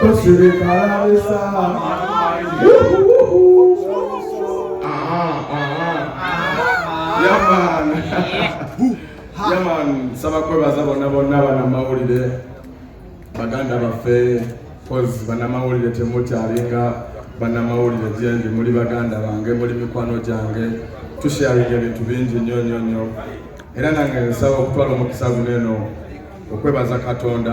Tosirika alabisa. Yaman, nsaba kwebaza bonna bonna banamawulire baganda baffe kozi banamawulire temukyalinga banamawulire gyendi muli baganda bange muli mikwano gyange tusharinga ebintu bingi nnyo nnyo nnyo era nange nsaba okutwala omukisa guno eno okwebaza katonda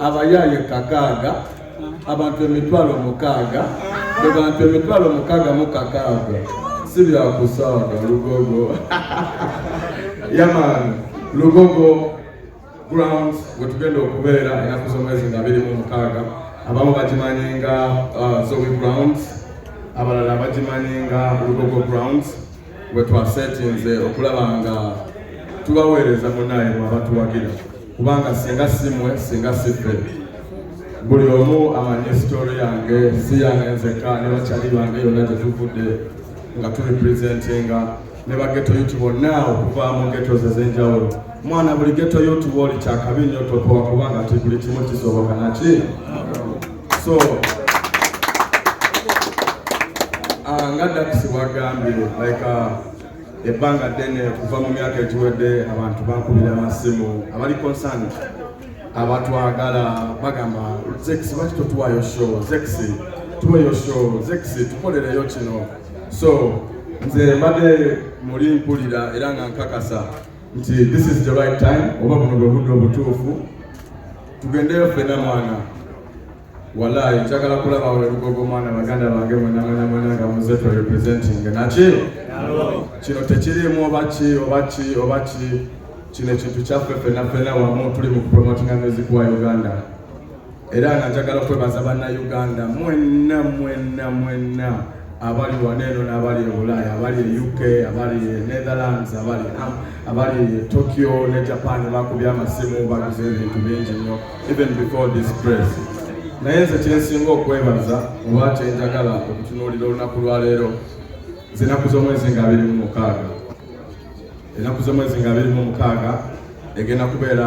abayaaye kakaaga abantu emitwalo mukaaga abantu emitwalo mukaaga mu kakaaga si byakusaaga lugogo yamaani lugogo ground wetugenda okubeera enaku z'omwezi nga biri mu mukaaga abamu bagimanyi nga uh, zoe grounds abalala bagimanyi nga lugogo grounds we twaseetinze okulaba nga tubaweereza munaye mwabatuwagira kubanga singa simwe singa siffe buli omu amanyi esitooro yange si yange nzeka ne bakyali bange yonna gye tuvudde nga tuli presentinga ne bageto yuti bonna okuva mu geto ze z'enjawulo mwana buli geto yuti wooli kyakabi nnyo topowa kubanga ti buli kimu kisoboka naki so ah, nga dakisi wagambye like ah, ebbanga ddene okuva mu myaka egiwedde abantu bankubira amasimu abali konsani abatwagala bagamba zekisi lwaki totuwayo show zekisi tuweyo show zekisi tukolereyo kino so nze mbadde muli mpulira era nga nkakasa nti this is the right time oba buno bwe budde obutuufu tugendeyo ffena mwana walaayi njagala kulaba welugogo mwana baganda bange mwenamwenamwena nga muze to representing naki kino tekirimu oba ki oba ki oba ki kino ekintu kyaffe ffena ffena wamu tuli mu kupromotinga music wa uganda era nga njagala kwebaza bannayuganda mwenna mwenna mwenna abali wano eno n'abali e bulaaya abali e uk abali e netherlands abali am abali e tokyo ne japan bakubye amasimu baguze ebintu bingi nnyo even before this press naye nze kyensinga okwebaza oba kyenjagala okutunuulira olunaku lwaleero zinaku z'omwezi nga abiri mu mukaaga enaku z'omwezi nga abiri mu mukaaga egenda kubeera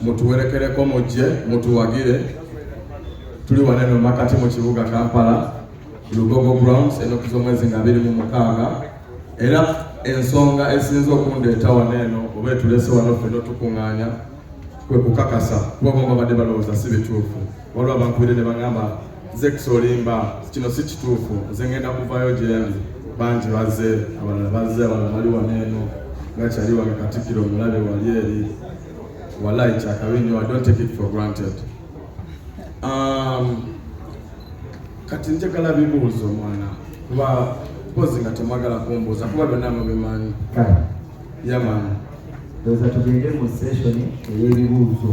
mutuwerekereko mujje mutuwagire tuli waneno makati mu kibuga kampala lugogo grounds enoku z'omwezi nga biri mu mukaaga era ensonga esinza okundeeta wano eno oba etulese wano ffe notukuŋŋaanya kwe kukakasa kuba bomba badde balowooza si bituufu waliwo abankubidde ne bagamba nze kusolimba kino si kituufu nze ngenda kuvayo gyendi bangi baze abalala baze abalala bali wano eno nga kyali wange katikkiro omulabe wali eri walayi kyakabi nyo i don't take it for granted um, kati njagala bibuuzo mwana kuba mpozi nga temwagala kumbuuza kuba byonna mubimanyi yamani ndoza tugende mu session ey'ebibuuzo